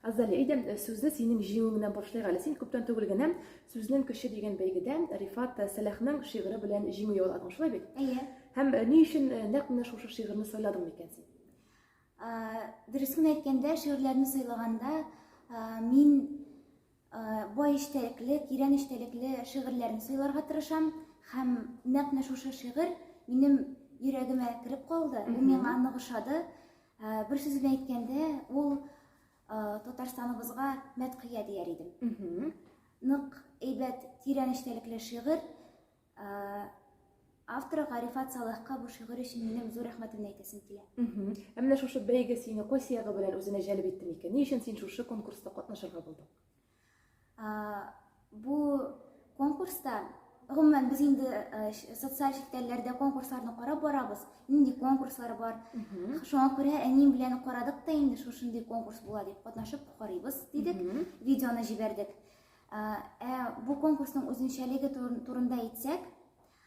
Азалия, әйдә, сүзне синең җиңүең белән башлыйк әле. Син күптән түгел генә Сүзнең көче дигән бәйгедә Рифат Сәлахның шигыре белән җиңү яуладың, шулай бит? Әйе. Һәм ни өчен нәкъ менә шушы шигырьне сайладың микән син? Дөресен әйткәндә, шигырьләрне сайлаганда мин бай эчтәлекле, тирән эчтәлекле шигырьләрне сайларга тырышам һәм нәкъ менә шушы шигырь минем йөрәгемә кереп калды, бу миңа нык ошады. Ә, бер сүз белән әйткәндә, ул ә, Татарстаныбызга мәдхия дияр идем. Нык әйбәт, тирән эчтәлекле шигырь. Ә, авторы Гарифат Салахка бу шигырь өчен минем зур рәхмәтемне әйтәсем килә. Ә менә шушы бәйге сине кайсы ягы белән үзенә җәлеп итте микән? Ни өчен син шушы конкурста катнашырга булдың? Бу конкурста гомумән без инде э, социаль челтәрләрдә конкурсларны карап барабыз нинди конкурслар бар шуңа күрә әнием белән карадык та инде шушындый конкурс була дип катнашып карыйбыз дидек видеоны җибәрдек ә бу конкурсның үзенчәлеге турында әйтсәк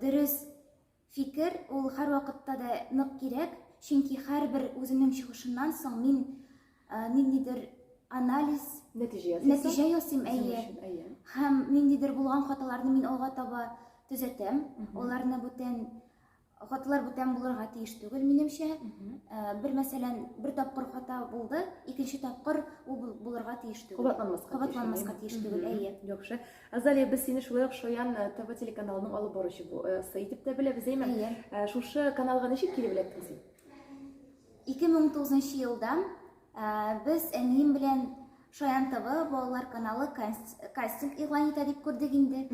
Дөрес фикер, ул һәрвакытта да нык кирәк, чөнки һәрбер үземнең чыгышымнан соң мин ниндидер анализ, нәтиҗә ясыйм, әйе. Һәм ниндидер булган хаталарны мин алга таба төзәтәм, аларны бүтән Хаталар бүтән булырга тиеш түгел, минемчә. Э, бер мәсәлән, бер тапкыр хата булды, икенче тапкыр ул булырга тиеш түгел. Кабатланмаска Кабатланмаска тиеш түгел, әйе. Яхшы. Азалия, без сине шулай ук Шаян э, ТВ телеканалының алып баручы э, сы итеп тә беләбез, әйме? Әйе. Шушы каналга ничек килеп эләктең син? 2009 елда без әнием белән Шаян ТВ балалар каналы кастинг игълан итә дип күрдек инде.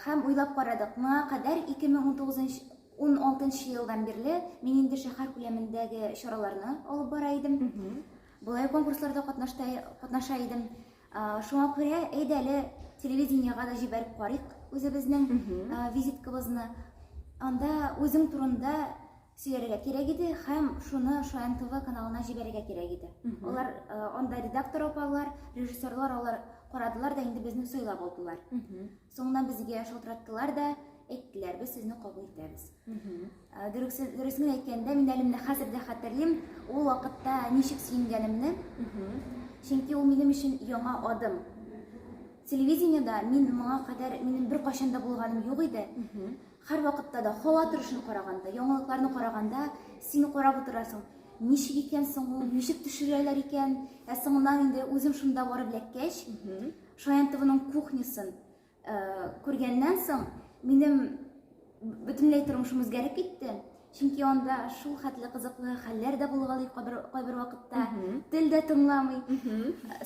Һәм уйлап карадык, моңа кадәр 2019 16 елдан бирле мин инде шәһәр күләмендәге чараларны алып бара идем. Болай конкурсларда катнаша идем. Шуңа күрә әйдә әле телевидениега да җибәреп карыйк үзебезнең визиткабызны. Анда үзең турында сөяргә кирәк иде һәм шуны Шаян ТВ каналына җибәрергә кирәк иде. Алар э, анда редактор апалар, режиссерлар алар карадылар да инде безне сайлап алдылар. Соңыннан безгә шалтыраттылар да, әйттеләр, без сезне кабул итәбез. Э, дөресен, дөресен әйткәндә, мин әле менә хәзер дә хәтерлим, ул вакытта ничек сөенгәнемне. Чөнки ул минем өчен яңа адым. Телевидениедә мин моңа кадәр минем бер кайчан да булганым юк иде. Һәрвакытта да, һава торышын караганда, яңалыкларны караганда, син карап утырасың, ничек икән соң ул, ничек төшерәләр икән, ә соңыннан инде үзем шунда барып эләккәч, Шаянтовының кухнясын күргәннән соң, минем бөтенләй тормышым үзгәреп китте. Чөнки анда шул хәтле кызыклы хәлләр дә булгалый кайбер кайбер вакытта. Тел дә тыңламый.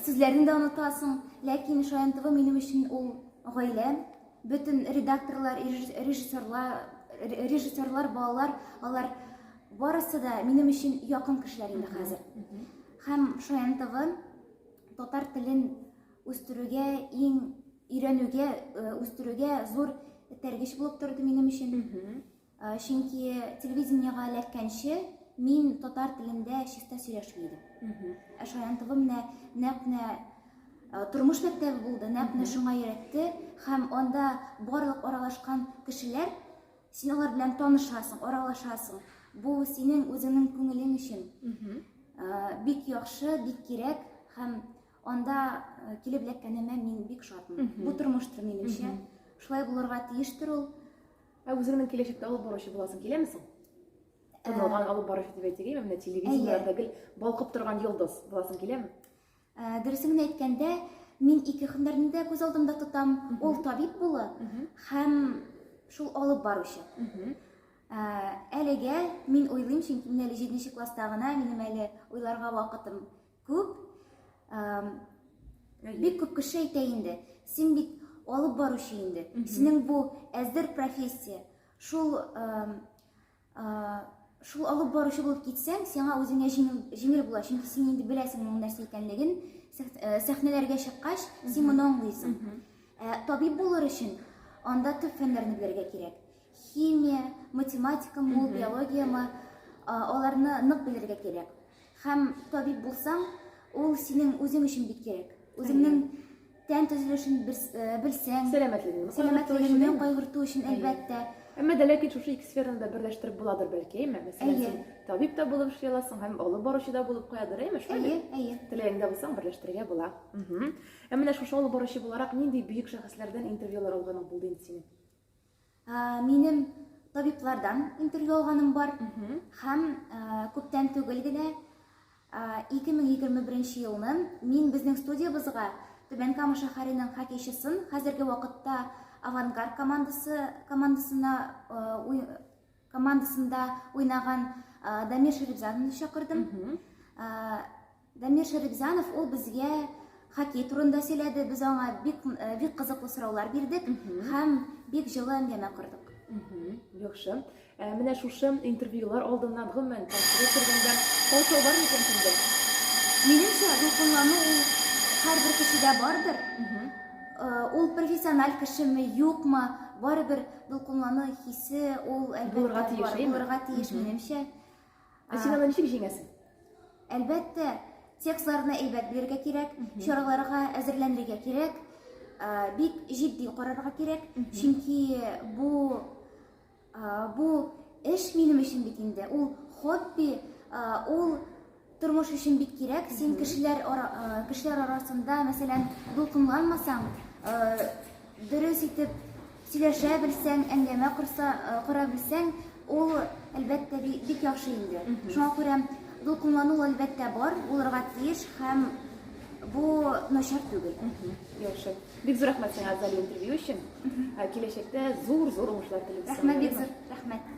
Сүзләрне дә онытасың. Ләкин Шаянтова минем өчен ул гаилә, Бөтен редакторлар, режиссерлар, режиссерлар, балалар, алар барысы да минем өчен якын кешеләр инде хәзер. Һәм Шаян ТВ татар телен үстерүгә, иң өйрәнүгә, э, үстерүгә зур этәргеч булып торды минем өчен. Э, чөнки телевидениега эләккәнче мин татар телендә чиста сөйләшми идем ә шаян тв менә нәкъ менә э, тормыш мәктәбе булды нәкъ менә шуңа өйрәтте һәм анда барлык аралашкан кешеләр син алар белән танышасың аралашасың бу синең үзеңнең күңелең өчен э, бик яхшы бик кирәк һәм анда килеп эләккәнемә мин бик шатмын бу тормыштыр минемчә шулай булырга тиештер ул Ә үзеңнең киләчәктә алып баручы буласың киләме соң? Танылган э, алып баручы дип әйтергә менә телевидениеләрдә гел балкып торган йолдыз буласың киләме? Э, дөресен генә әйткәндә, мин ике һөнәрне дә күз алдымда тотам. Ул табиб булу һәм шул алып баручы. Э, әлегә мин уйлыйм, чөнки мин әле 7 класста гына, минем әле уйларга вакытым Күп, бик күп кеше әйтә инде, син бит алып баручы инде, синең бу әзер профессия, шул шул алып баручы булып китсәң, сиңа үзеңә җиңел була, чөнки син инде беләсең моның нәрсә икәнлеген, э, сәхнәләргә чыккач, син моны аңлыйсың. Ә табиб булыр өчен анда төп фәннәрне белергә кирәк. Химия, математика, мул биология ма, аларны нык белергә кирәк. Хәм табиб булсаң, ул синең үзең өчен бик кирәк. Үзеңнең тән төзелешен э, белсәң, сәламәтлегеңне сәламәтлегеңне кайгырту өчен әлбәттә. Әмма дә ләкин шушы ике сфераны да берләштереп буладыр бәлки, әйме? Мәсәлән, син табиб та булып эшли аласың һәм олы баручы да булып куядыр, әйме? Әйе, әйе. Теләгеңдә булсаң, берләштерергә була. Әмма менә шушы олы баручы буларак нинди бөек шәхесләрдән интервьюлар алган булды инде синең? Минем табиблардан интервью алганым бар. Һәм күптән түгел генә 2021 елны мин безнең студиябызга Түбән Кама шәһәренең хоккейчысын, хәзерге вакытта Авангард командасы командасына командасында уйнаган Дамир Шәрифзадовны чакырдым. Дамир Шәрипҗанов ул безгә хоккей турында сөйләде, без аңа бик э, бик кызыклы сораулар бирдек һәм бик җылы әңгәмә кордык. Яхшы. Ә менә шушы интервьюлар алдыннан гомумән тәэсир кергәндә каушау бар микән синдә? Минемчә, дулкынлану ул һәрбер кешедә бардыр. Э, Ул профессиональ кешеме, юкмы, барыбер дулкынлану хисе ул әлбәттә Булырга тиеш, бар, әйме? булырга тиеш минемчә. Ә син аны ничек җиңәсең? Әлбәттә, текстларны әйбәт белергә кирәк, чараларга әзерләнергә кирәк, бик җитди карарга кирәк, чөнки бу бу эш минем өчен бит инде, ул хобби, ул тормыш өчен бик кирәк. Син кешеләр кешеләр арасында, мәсәлән, дулкынланмасаң, дөрес итеп Сөйләшә белсәң, әңгәмә корса, кора белсәң, ул, әлбәттә, бик яхшы инде. Шуңа күрә дулкынлану, әлбәттә, бар, булырга тиеш һәм бу начар түгел. Яхшы. Бик зур рәхмәт сиңа, Азалия, интервью өчен. Киләчәктә зур-зур уңышлар телим. Рәхмәт, бик зур рәхмәт.